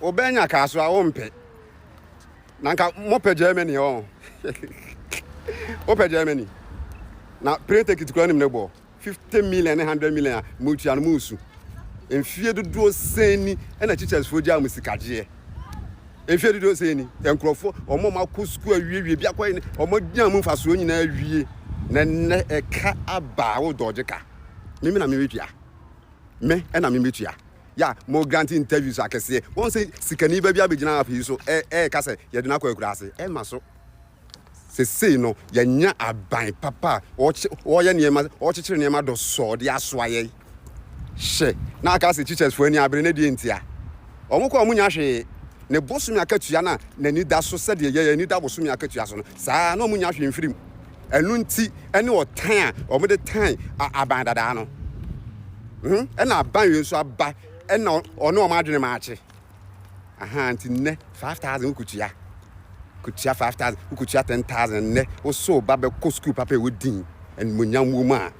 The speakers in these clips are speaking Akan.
Wobɛnya kaa so a wompɛ. Na nka mopɛ Germany ɔ. Wopɛ Germany. Na plane ticket kura nim ne bɔ. 50 million ne 100 million a motua no mo nsu. Mfie dodoɔ sɛn ni ɛna teachers fo gyaa mo sikagyeɛ. Mfie dodoɔ sɛn ni. Nkurɔfoɔ wɔn a wɔakɔ sukuu awiewie bi akɔyɛ ne wɔn agyina mu mfasoɔ nyinaa awie. Na nnɛ ɛka aba a wodɔɔgye ka. Me me na mebetua. Me ɛna mebetua. Ya mo grant interviews akɛseɛ. Wɔn sɛ sikani ba bi abɛgyina app yi so ɛɛka sɛ yɛde no akɔ akuraase. Ɛmma so. Sesei no yɛanya aban papa a ɔɔyɛ nneɛma, ɔɔkyekyere nneɛma dɔsɔɔ de asoa yɛn. Hyɛ na aka sɛ teachers foɔ ani abere na deɛ ntia. Wɔn kɔ a wɔnnya hwee. Ne bosome akatua no a n'ani da so sɛdeɛ yɛn ani da bosome akatua so no, saa ara na wɔnnya hwee mfiri mu. Ɛno nti ne ɔtan a wɔde tan aban dadaa no. Ɛna aban wei nso aba na ɔne wɔn adwene maakye. Aha, nti nnɛ 5000 wokɔtua. Kɔtua 5000, wokɔtua 10000 nnɛ. Wosɛ wo ba bɛkɔ sukuu papa ɛwɔ din, animuonyam wɔ mu a,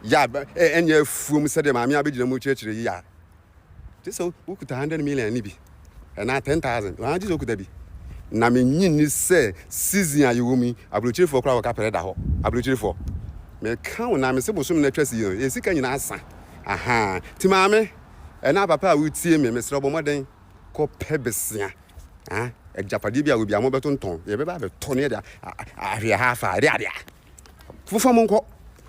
yɛ a ɛnyɛ afuom sɛdeɛ maame a bɛgyina mu kyerɛkyerɛ yi a. Gye sɛ wokuta hundred million no bi anaa ten thousand anaa gye sɛ wokuta bi. Na menyi nni sɛ season a yɛwɔ mu yi, aburokyirefoɔ koraa wɔka pere da hɔ. Aburokyirefoɔ. Meka wo na mese bosom no atwa si yi no, yɛn sika nyinaa sa. Ahaa. Nti maame anaa papa a wotie me, mesrɛ wo bɔ mmɔden kɔpɛ besia. Ah, agyapadeɛ bi a wɔbi a mobɛtontɔn, yɛbɛba abɛtɔ no yɛde ahwe ha afa, ɛde adeɛ. Fofa mu nkɔ.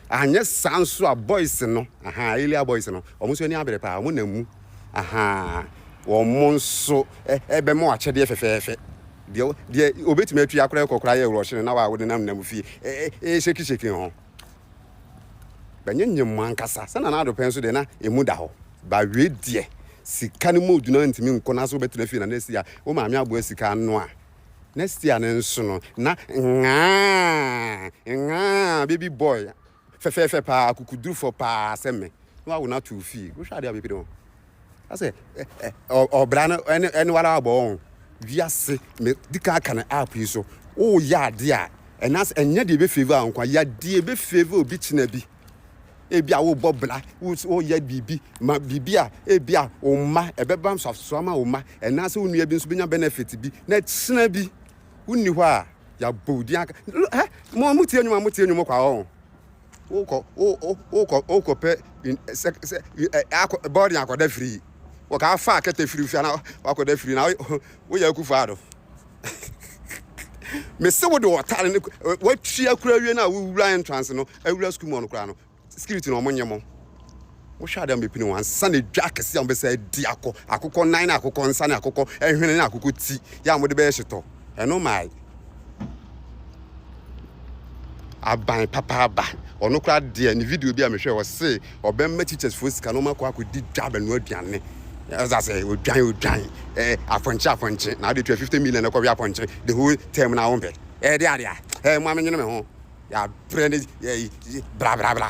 Anyɛ saa nso a boys no, ahaa, earlier boys no, wɔn nso ani abere paa, wɔn nam mu. Ahaa, wɔn nso ɛbɛma wɔn akyɛdeɛ fɛfɛɛfɛ. Deɛ deɛ obetumi atua koraa kɔ koraa yɛ rush no na wa wɔde nam nam fie. Ee shake shake ho. Bɛnyenyem mu ankasa. Sɛ na na adopɛ nso deɛ na emu da hɔ. Ba wie deɛ sika no mu odwuna ntumi nkɔ na so bɛtena fie na na esi a wo maame aboa sika ano a Next year no nso no, na nhaa, nhaa, baby boy, fɛfɛɛfɛ paa, akokodurufɔ paa sɛ me, na wawo no ato wo fie. Wohwɛ adeɛ a mepede ho. Asɛ, ɔbra no, ɛne, ɛne wala abɔ wɔn. Wiase, me di kan aka no app yi so. Woyɛ adeɛ a, ɛna, ɛnyɛ deɛ ebe favor wo nko a, yɛ adeɛ ebe favor obi kyena bi. ebia wobɔ bra, woyɛ biribi ma biribi a ebia wo mma ɛbɛba nsoasoa ma wo mma, ɛnaasɛ wo nua bi nso bɛnya benefit bi, na kyena bi wonni hɔ a yɛabɔ wo din aka ɛ mo mo tie nnwom a mo tie nnwom kɔ a ɔn wokɔ wokɔ wokɔ pɛ sɛ sɛ akɔ bɔɔden akɔda firi wɔka afa akɛtɛ firi fia na wakɔda firi na woyɛ akufo ado. mese wo de wɔtare no watua kura awie no a wowura entrance no awura sukuu mu ɔno koraa no security no ɔmo nye mo wohwɛ ade a mobɛpini wɔn ansa na dwa akɛse a mobɛsɛ adi akɔ akokɔ nan ne akokɔ nsa ne akokɔ hwene ne akokɔ ti yɛ a mode bɛyɛ hyetɔ ɛno mae aban papaaba. Ɔno koraa deɛ ne video bi a mehwɛ ɔse ɔbɛma teachers foɔ sika na ɔma kɔ akɔdi dwa bɛnoa aduane. Ɛsɛ sɛ odwan odwan eh, afɔnkye afɔnkye na ade tua 50 million na ɛkɔwe apɔnkye the whole term na wompe. Ɛde adeɛ a eh, mo amenyene me ho yɛabrɛ ne eh, bla bla bla.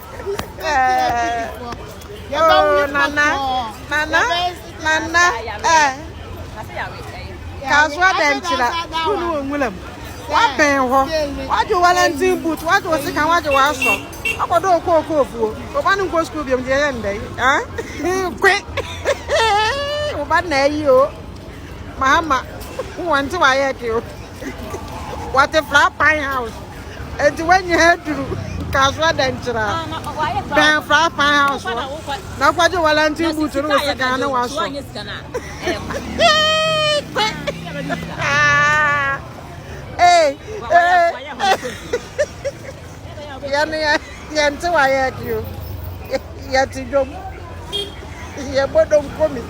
Oh, Nana, Nana, Nana, eh. Kasoa dɛ nkyerɛ, wo ne wɔn nwura mu. Wabɛn hɔ, wagye Wellington boot, wagye wo sekan, wagye w'asɔ. Akɔdɔ okɔ okɔ ofuo, ɔba ne nkɔ sukuu biom deɛ yɛ ndɛ yi. Kwe, ɔba na ayi o, mahama, wɔn ti wa yɛ ke o. Wɔte Flat Pine House. Enti wanya aduru nkaso adankyira. Bɛn Flat Pine House hɔ. Na kɔgye Wellington boot no wɔ sika ne waso. Hey, hey. Yeah, yeah. Yɛnte wa yɛ de o. Yɛte dwom. Yɛbɔ donko mi.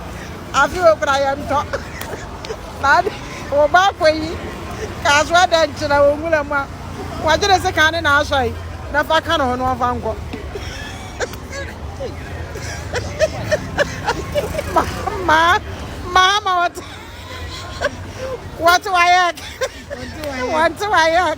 Afi o kura yɛntɔ. Naade wɔ ba akɔ yi. Kaaso ɛdɛ nkyerɛ wɔ nwura mu a. Wɔgye ne se kan ne na asɔ yi. Na fa ka ne ho no ɔmfa nkɔ. Ma ma ma wɔte wɔte wa yɛ. Wɔte wa yɛ.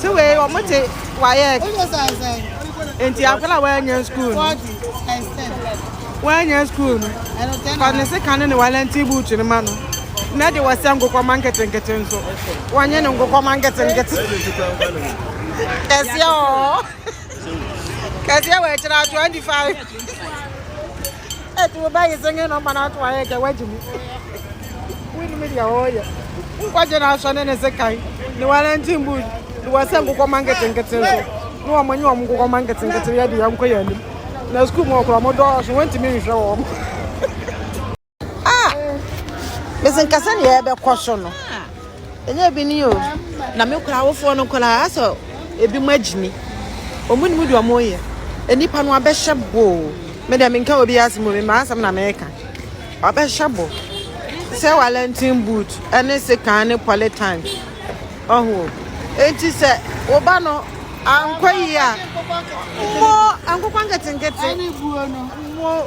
Se wei wɔn te wayɛk. Enti akwadaa wɔanya school no. Wɔanya school no. Fa ne sika ne ne walɛnti buutu no ma no. Na de wɔsɛ nkokɔma nketenkete nso. Wɔnyɛ ne nkokɔma nketenkete. Kɛseɛ ɔɔ. Kɛseɛ wɔ akyire a 25. Ɛti wo bɛyi singing number na ato ayɛ kɛ wagye mu. Wonim deɛ wɔyɛ. Nkɔgye no asɔ ne ne sekan ne Wellington boot ne wɔsɛ nkokɔ ma nketenkete so ne wɔn nye wɔn nkokɔ ma nketenkete yɛ deɛ nkɔ yɛ anim. Na sukuu mu ɔkorɔ wɔn dɔɔso wɔntumi nhwɛ wɔn. Ah! Mese nka sɛ deɛ ɛbɛkɔ so no. Ɛnyɛ bi ni o. Na me kora awofoɔ no koraa asɛ ebi mu agyimi. Ɔmo nim deɛ ɔmo yɛ. Nnipa no abɛhyɛ boo. Me deɛ menka obi asɛm o, me maa asɛm na meka. Wabɛhyɛ bo. Sɛ Wellington boot ɛne sekan ne polytank. Ɔho. Enti sɛ wo ba no ankɔ yi a, mo nkokɔ nketenkete. Mo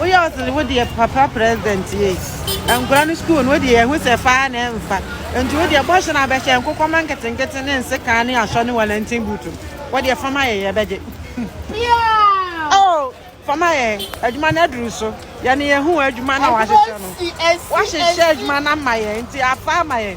woyɛ ɔsɛ wo deɛ papa president yɛ nkura no school no wodeɛ yɛhu sɛ faa na ɛmfa nti wodeɛ bɔhyɛ no abɛhyɛ nkokɔma nketenkete ne nsekaa ne asɔ ne walantin buutu wodeɛ fama yɛ yɛbɛgye oh fama yɛ adwuma no aduru so yɛne yɛhu adwuma na wahyehyɛ no wahyehyɛ adwuma no ama yɛ nti afa ama yɛ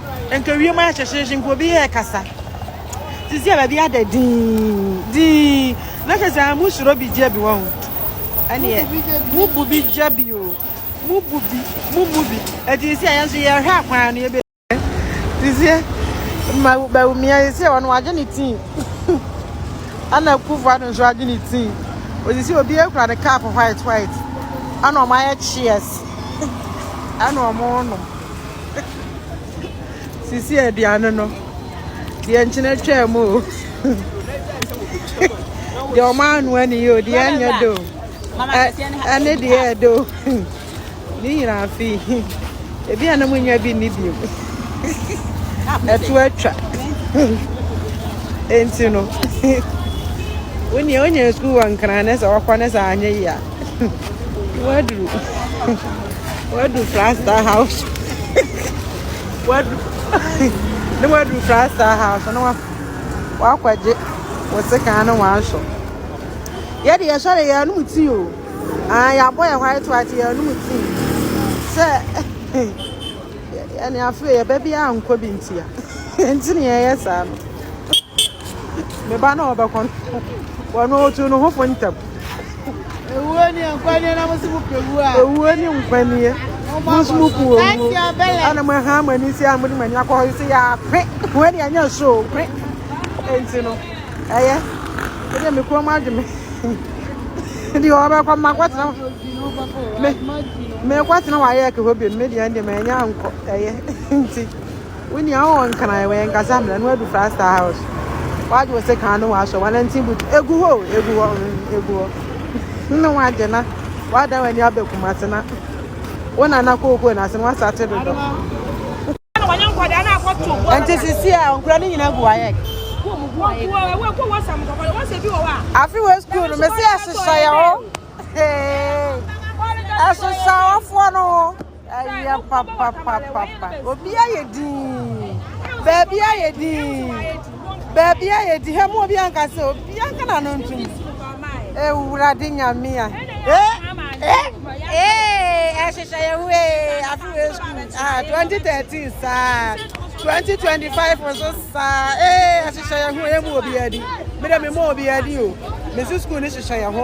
Nka wiem ayɛ hyɛhyɛhyɛ nka obi yɛ kasa. Sisi a baabi ada din din. Na kyerɛ sɛ mo suro bi gya bi wɔ ho. Ɛneɛ mo bu bi gya bi o. Mo bu bi mo mu bi. Ɛti sisi a yɛn nso yɛhwɛ akwan no yɛbɛ. Sisi ma bɛwo mmea sisi a wɔn wagye ne tii. Ana kufu ado nso agye ne tii. Osisi obi ekura ne cup white white. Ana wɔn ayɛ cheers. Ana wɔn nom. sisi aduane no deɛ nkyene twaa mu o deɛ ɔmo anoa ne yɛ o deɛ ɛnyɛ do ɛne deɛ ɛdo ne nyinaa fi ebi a na mo nya bi ne bi mu ɛto atwa nti no wonea wonya sukuu wɔ nkran ne sɛ wɔkɔ ne sɛ anyɛ yia. Waduru. Waduru Frasta house. Wadu. Ne waduru Frasta house. Ne wa. Wakɔgye. Wɔsi kan no wanso. Yɛ de yɛsɔ de yɛn anum ti o. Ah, yɛabɔ yɛ white white yɛn anum ti. Sɛ. Yɛne afei yɛ baabi a nkɔ bi nti a. Nti ne yɛyɛ saa no. Me ba na ɔbɛkɔ no. Wɔn otu no ho fo ntam. Ewuo ni nkwa nie na mo si mo pɛ wuo a. Ewuo ni nkwa nie. Mo si mo pɛ owuo. Ana mo ha mo ani si a mo de mo ani akɔ hɔ yi si yɛ akwe. Mo ani anya so kwe. Enti no ɛyɛ. Ɛdi mi kɔn mu adwe mi. Ɛdi hɔ bɛ kɔ ma kɔ tena. Me me kɔ tena wɔ ayɛ kɛ hɔ bi. Me di ɛndi me anya nkɔ ɛyɛ. Enti. Wo nua wo nkran wɔ yɛn kasa mmerɛ no adu frasta house wagye wo se kan no wasɔ wanantin butu egu hɔ egu hɔ mm, egu hɔ ne wagye na wadan w'ani abɛ kumase na wo nana kookoo na ase no wasa te dodo ɛnti sisi a nkura ne nyina gu wayɛ afi wɔ sukuu no mesi ɛhyehyɛ yɛ hɔ ɛhyehyɛ wɔfoɔ no ho Ɛyɛ papapapapa. Obi ayɛ dinn. Baabi ayɛ dinn. Baabi ayɛ dinn. Hɛ mu obi anka sɛ obi anka na no ntum. Ewurade nyame a. Eh eh eh. Ɛhyehyɛ yɛ ho ee. Afi wɔ school. Ah 2013 saa. 2025 nso saa. Eh ɛhyehyɛ yɛ ho. Yɛ mu obi adi. Me dɛ me mu obi adi o. Me si school ni hyehyɛ yɛ ho.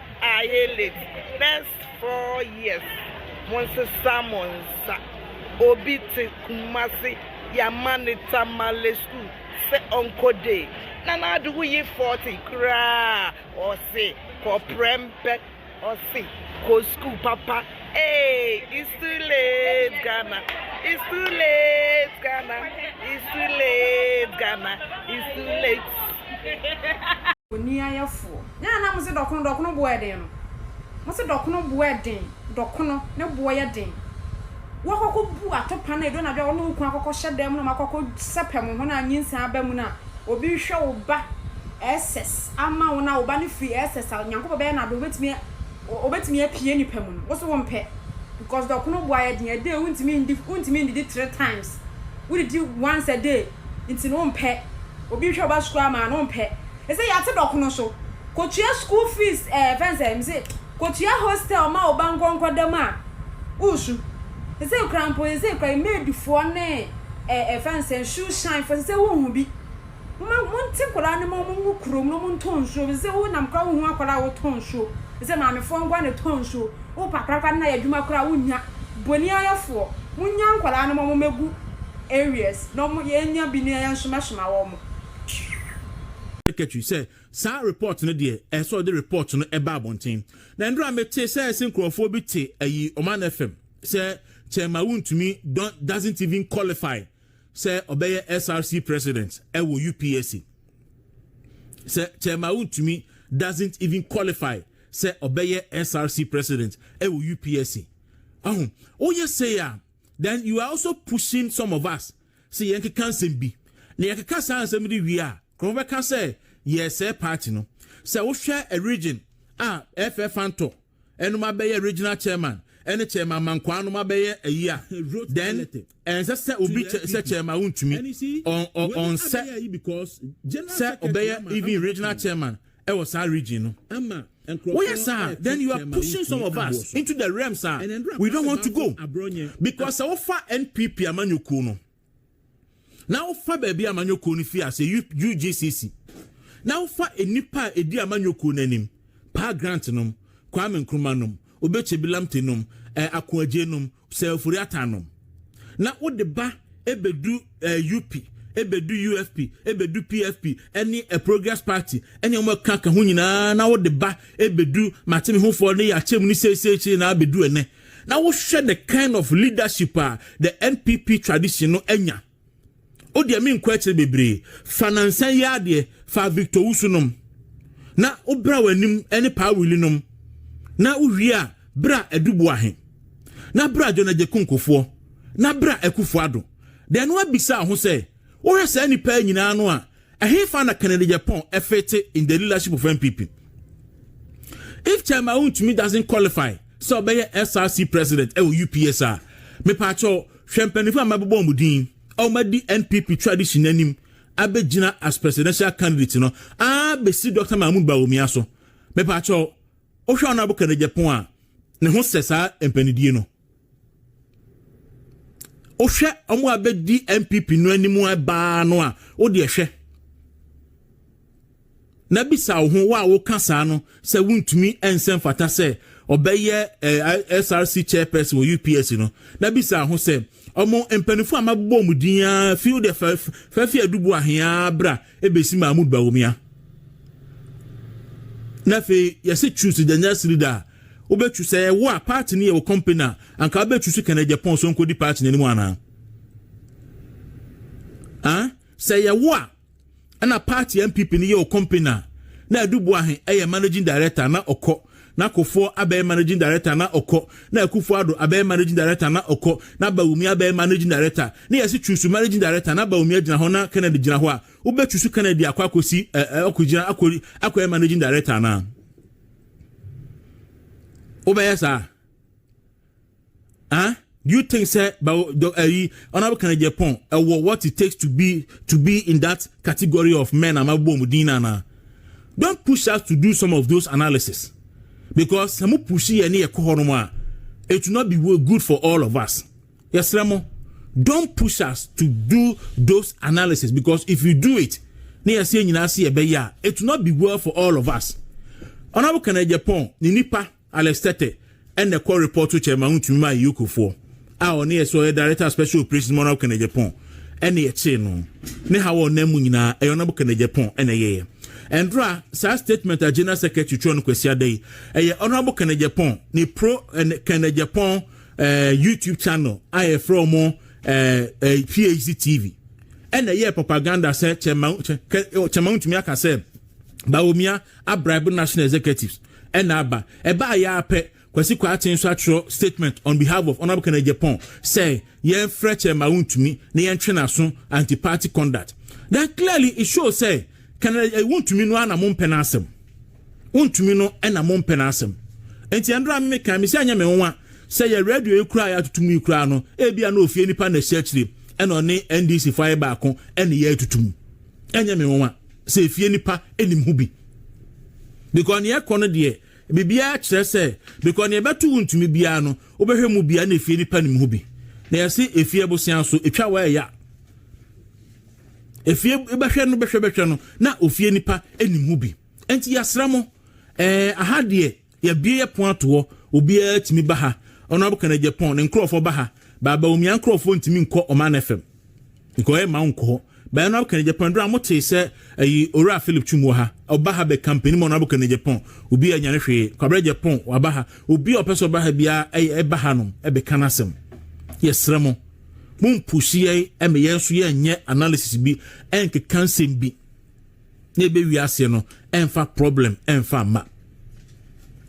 Ayɛ late first four years monsesa mo nsa obi te kumase yama no tamale school sɛ ɔnkɔ day nana ado woyi forty koraa ɔse kɔ prɛmpɛ ɔse kɔ school papa Hey, it's too late, Ghana. It's too late, Ghana. It's too late, Ghana. It's too late. Oni ayɛfoɔ. Nyɛ na mo se dɔkono dɔkono boɔ yɛ den no. Mo se dɔkono boɔ yɛ den. Dɔkono ne boɔ yɛ den. Woakɔkɔ bu atopa no edu anadwo a wo ne wo kunu akɔkɔ hyɛ dan mu na moakɔkɔ sɛpɛ mo ho na nyinsɛn aba mu no a obi rehwɛ wo ba SS ama wo na wo ba no firi SS a Nyankopɔn bɛyɛ no adom obetumi Wɔbɛtumi apue nnipa mu no, wo so wompɛ because dɔko no bo ayɛ den, a day wontumi ndi, wontumi ndidi three times, wodidi once a day nti no wompɛ, obi rehwɛ wo ba sukuu ama a no wompɛ, ɛsɛ yɛate dɔko no so, kɔtua school fees ɛɛ ɛfɛ ne sɛ, mese kɔtua hostel ma wo ba nkɔ nkɔda mu a woresu, sesei koraa mpo sesei koraa maidfoɔ ne ɛɛ ɛfɛ ne sɛ shoe shine foɔ sesei wonhu bi. Momma monte nkwadaa no ma wɔnwo kurom na wɔntɔ nsuo ɛfiri sɛ wonam koraa wonhu akwadaa a wɔtɔ nsuo ɛfiri sɛ maamefoɔ nko ara na ɛtɔ nsuo. Wopa akwadaa no na ayɛ adwuma koraa a wonnya. Boniayɛfoɔ, monnya nkwadaa no ma wɔmmɛgu areas na wɔn yɛnnya bi na yɛnsomasoma wɔn. Secretary sɛ saa report no deɛ ɛsɛ sɛ ɔde report no ba abɔnten. Na nnora metee sɛ ɛse nkurɔfoɔ bi te ayi Oman FM sɛ Kyɛrma wontumi don doesn't even qualify sɛ ɔbɛyɛ SRC president ɛwɔ UPSC sɛ Kyɛma Wontumi doesn't even qualify sɛ ɔbɛyɛ SRC president ɛwɔ UPSC ahu woyɛ sei a then you are also pushing some of us sɛ yɛnkeka nsɛm bi na yɛkeka saa nsɛm de wie a nkurɔfo bɛka sɛ yɛsɛe party no sɛ wohwɛ a region a ɛfɛ fantɔ nom abɛyɛ regional chairman ɛne chairman ma nkwaa nom abɛyɛ ayi a then ɛnsɛ sɛ obi kyɛ sɛ chairman wontumi ɔnsɛ sɛ ɔbɛyɛ even regional chairman ɛwɔ saa region no woyɛ saa then you are pushing some of us into the realms a we don't want to go because sɛ wofa npp amanyɔkuo no na wofa baabi a amanyɔkuo no firi ase UGCC na wofa nnipa a ɛdi amanyɔkuo no anim paa grant nom Kwame Nkrumah nom Obekye Bilamte nom eh, Akoagye nom Sir Ofori Atta nom na wode ba ɛbɛdu eh, UP ɛbɛdu UFP ɛbɛdu PFP ɛne eh, Progress Party ɛne wɔn ɛkaka ho nyinaa na wode ba ɛbɛdu mateme hofoɔ ne yɛakyɛ mu ne seesei kyerɛ nyinaa bɛdu ɛnɛ na wohwɛ the kind of leadership a the npp tradition no anya o deɛ menkɔ akyire bebree fa nansa yi adeɛ fa victor wusu nom na wobra w'anim ne paa wili nom na wowie a bra adubu ahe na bra dwonagye konkofoɔ na bra akufoɔ ado deɛ no abisa ho sɛ wohwɛ saa nnipa nyinaa no a Ɛhefa na Kennedy Agyapong fete in the leadership of NPP? If Chairman Wontumi doesn't qualify sɛ ɔbɛyɛ SRC president ɛwɔ UPS a, mepaakyɛw hwɛ mpanyinfo a mabobɔ wɔn din a wɔadi NPP tradition anim abɛgyina as presidential candidate no aa bɛsi Dr. Mahmoud Bawumia so. Mepaakyɛw, wohwɛ Honorable Kennedy Agyapong a, ne ho sɛ saa mpanidie no. wohwɛ wɔn a bɛdi npp no anim baa no a wode ɛhwɛ na bisa wo ho wo a woka saa no sɛ wontumi nsɛ mfata sɛ ɔbɛyɛ eh, src chairperson wɔ ups no na bisa ho sɛ ɔmo mpanimfoɔ a mabobɔ mu din a fi wode fafi adubu ahea bra ebesi mahmud bawumia na afei yɛsɛ choose daniel sirida a Wobɛtu, sɛ ɛyɛ wo a, party no yɛ wo company a, anka wobɛtu so kɛnɛ Japan so nkɔdi party no anim anaa? Ah? Sɛ ɛyɛ wo a, ɛna party NPP no yɛ wo company a, na Adu Boahe ɛyɛ managing director na ɔkɔ, na Kofoɔ abɛyɛ managing director na ɔkɔ, na Akufo Ado abɛyɛ managing director na ɔkɔ, na Bawumia abɛyɛ managing director, na yɛse chusu managing director na Bawumia gyina hɔ na Kennedy gyina hɔ a, wobɛchusu Kennedy akɔ akɔsi, eh, eh, akɔgyina, akɔ, akɔyɛ managing director anaa? wobɛyɛ saa ah do you think sɛ bawo dɔ ɛyi ɔnabɔ kan jɛ pɔn ɛwɔ what it takes to be to be in that category of men ama bɔ ɔmo din nana don't push us to do some of those analysis because sɛ mo push yɛ ne yɛ kɔ hɔ nom a it will not be good for all of us. Yɛsrɛ mo, don't push us to do those analysis because if you do it, na yɛsɛ yɛn nyinaa se yɛbɛyɛ a, it will not be well for all of us. Honorable Kenneth Agyapong, ne nipa Alex Tetteh ɛna ɛkɔ report to chairman ho tumi maa Yukofoɔ a ɔne yɛ sɛ ɔyɛ director of special operations ma Honorable Kenneth Agyapong ɛna yɛkyee no. Ne ha wɔ ɔnam mu nyinaa ɛyɛ Honorable Kenneth Agyapong ɛna ɛyɛyɛ. Ɛndora saa statement a General Secretary twerɛ no Kwasiada yi, ɛyɛ Honorable Kenneth Agyapong ne pro ɛne Kenneth Agyapong eh, youtube channel a yɛfrɛ ɔmo eh, eh, phd tv ɛna ɛyɛ propaganda sɛ kyɛma kyɛma ntumi aka sɛ bawomia abraibu national executives ɛna aba ɛbaa yɛ apɛ kwasi kwate nso atwerɛ statement on behalf of honourable kennedy japan sɛ yɛmfrɛ kyɛma wontumi na yɛntwe n'aso anti party conduct then clearly it shows sɛ kennedy eh, wontumi no ara na mo mpɛ n'asɛm Wontumi no na mompɛ n'asɛm. Enti ɛno a mekae, mise ɛnyɛ me nwa sɛ yɛ radio yi koraa a yɛatoto mu yi koraa no, ebia na ofie nipa na ɛhyɛ akyire na ɔne NDC fo ayɛ baako ne yɛ atutu mu. Ɛnyɛ me nwa sɛ efie nipa nim ho bi. Because ne yɛkɔ no deɛ, biribiara kyerɛ sɛ, because ne yɛbɛto wo ntumi biara no, wobɛhwɛ mu biara na efie nipa nim ho bi. Na yɛse efie abosea so, etwa wɔ ɛya. Efie bɛhwɛ no bɛhwɛ bɛhwɛ no, na ofie nipa nim ho bi. Enti yɛasra mo. Ɛɛ, aha deɛ, yɛabue yɛ pon ato hɔ. Obiara tumi ba ha. Honourable Kenneth Agyapong ne nkurɔfoɔ ba ha. Ba Bawumia nkurɔfoɔ ntumi nkɔ Ɔman FM. Nka ɔyɛ mma wo nkɔ hɔ. Ba Honourable Kenneth Agyapong ɛberɛ a motee sɛ ayi Owura Philip Twum wɔ ha, ɔba ha bɛkampanin ma Honourable Kenneth Agyapong. Obiara nyane hwee. Kwabena Agyapong waba ha. Obiara ɔpɛ sɛ ɔba ha biara ɛyɛ ɛba hanom ɛbɛka n'asɛm. Yɛsrɛ mo, mompushi yɛn ɛma yɛn nso yɛnyɛ analysis bi ɛnkeka nsɛm bi. na ebe wiase no ɛnfa problem ɛnfa mma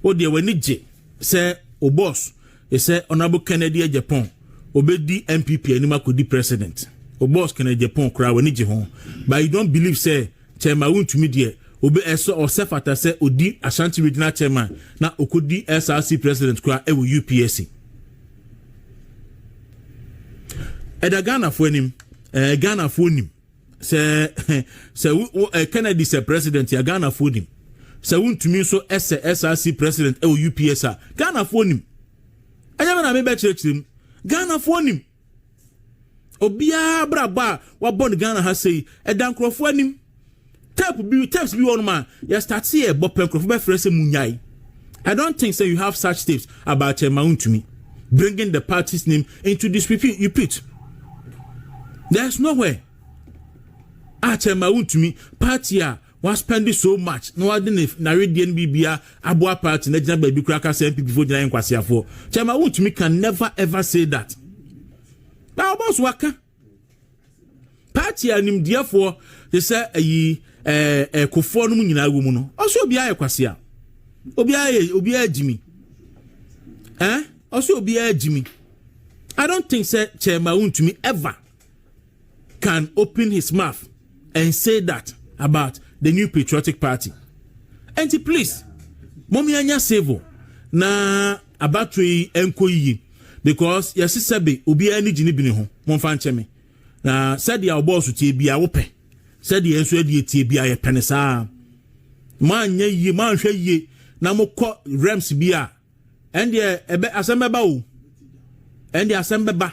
o deɛ w'ani gye sɛ o boss sɛ honorable kennedy agyapong obedi npp anim akɔdi president o boss kennedy agyapong koraa w'ani gye ho but you don't believe sɛ kyɛma wontumi deɛ obi ɛsɛ ɔsɛ fata sɛ odi ashanti regional chairman na okodi src president koraa ɛwɔ upsc ɛda ghanafoɔ anim ɛɛ ghanafoɔ nim sɛ sɛ wo eh, kennedy sɛ president a ghanafoɔ nim sɛ wontumi nso ɛsɛ src president ɛwɔ eh, ups a ghanafoɔ nim ɛnyɛ me na mebɛkyerɛkyerɛ mu ghanafoɔ nim obiara brabɔ a wabɔ no ghana ha sɛ yi ɛda nkurɔfoɔ anim Tape bi tapes bi wɔ nom a yɛ start yɛ bɔ pɛ nkurɔfo bɛ frɛ sɛ mu nyae. I don't think sɛ you have such tapes about kyɛn ma ntumi. Bringing the party's name into this repeat you put. There is nowhere a kyɛn ma ntumi party a wa spend so much na wa de ne naredie no bibia aboa party na gyina baabi kura kasa MPP fo gyina yɛn kwaseafoɔ. Kyɛn ma ntumi can never ever say that. Na ɔbɔ so waka. Party a nimdeɛfoɔ te sɛ ayi ɛɛ ɛkofoɔ no mu nyinaa wɔ mu no, ɔsɛ obiara yɛ kwasea, obiara yɛ obiara gyimi, ɛn eh? ɔsɛ obiara gyimi. I don't think sɛ Chairman Wuntumi ever can open his mouth and say that about the new patriotic party. And please, mommy anya civil na abattoir yi enko yiye. Because yɛse sɛbe obiara ani gye ne bini ho, momfa nkyɛ me. Na sɛdeɛ wo bɔɔso tie biara wopɛ, sɛdeɛ nso adie tie biara yɛpɛ ne saa. Moanyɛ yie, moanhwɛ yie na mokɔ rems bi a, ɛndeɛ ɛbɛ asɛm bɛba o. Ɛndeɛ asɛm bɛba.